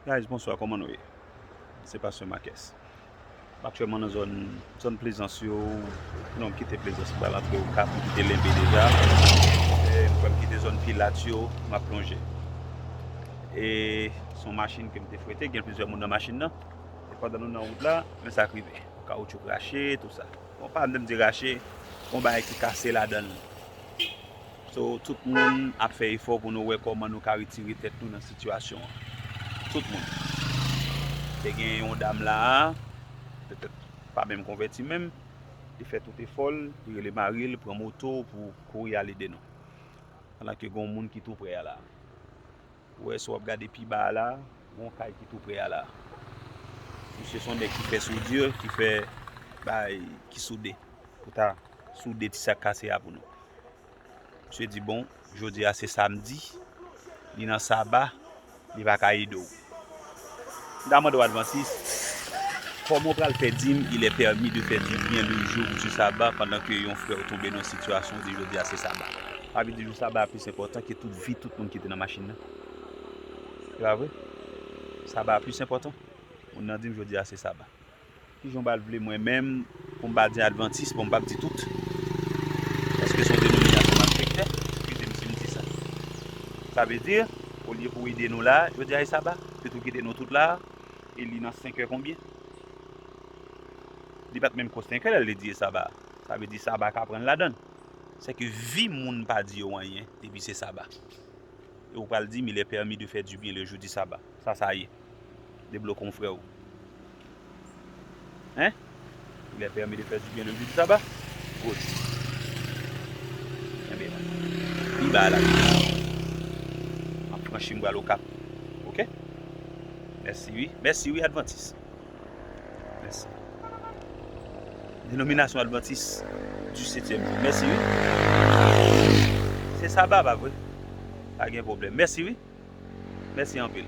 Guys bonswa koman nou ye se pastè makès m aktyèlman nan zòn zòn plezans yo non m kite plezans m pral antre okap m kite lenbe deja m pral kite zòn pilat yo m ap lonje e se yon machin ke m te frete gen plizyè moun nan machin nan e pandan nou nan wout la men sa k rive kawoutchou krache tout sa bon pa menm di rache gon bagay ki kase ladan l So tout moun ap fè efò pou nou wè kòman nou ka retire tèt nou nan sitiyasyon an. Tout moun. Te gen yon dam la a, petèt pa menm konvèti menm, li fè tout efò l, li rele mari l, pran moto pou kouri al ede nou. Pandan ke gen yon moun ki tou prè a la a. Ou wè si wap gade pi ba a la, gen yon kay ki tou prè a la. Misye se yon nèg ki fè soudure, ki fè bagay ki soude. Pou ta soude ti sa k kase a pou nou. Misye di bon, jodi a se samdi, li nan saba, li pa ka ede w. Damando Adventiste, Kòman w pral fè di m il est permis de faire du bien le jour du sabbat pandan ke yon frè w tonbe nan yon sitiyasyon ou di jodi a se saba? Sa vle di jou saba a plis enpòtan ke tout vi tout moun ki te nan machin nan? Se pa vre? Saba a plis enpòtan? Moun nan di m jodi a se saba. Kijan w bal vle mwen menm pou m pa di advantis bon m pap di tout paske son denominasyon map fek fè eskize m si m di sa sa vle di olye pou w ede nou la jodi a e saba pito w kite nou tout la e li nan senkè konbyen li pat menm ko senkè lè l te di e saba sa vle di saba ka pran ladann sèke vi moun pa di yo anyen depi se saba e w pral di m il est permis de faire du bien le jour du sabbat sa sa ye deblokon freo. Hein? Il est permis de faire du bien le jour du sabbat? Good. Kenbe la. Pi ba la. Map franchi m pral Okap. Ok? Mèsi wi. Mèsi wi Advantis. Mèsi. Denominasyon Advantis du Setyèm Jou. Mèsi wi. Se Saba pa vre? Pa gen pwoblèm. Mèsi wi. Mèsi anpil.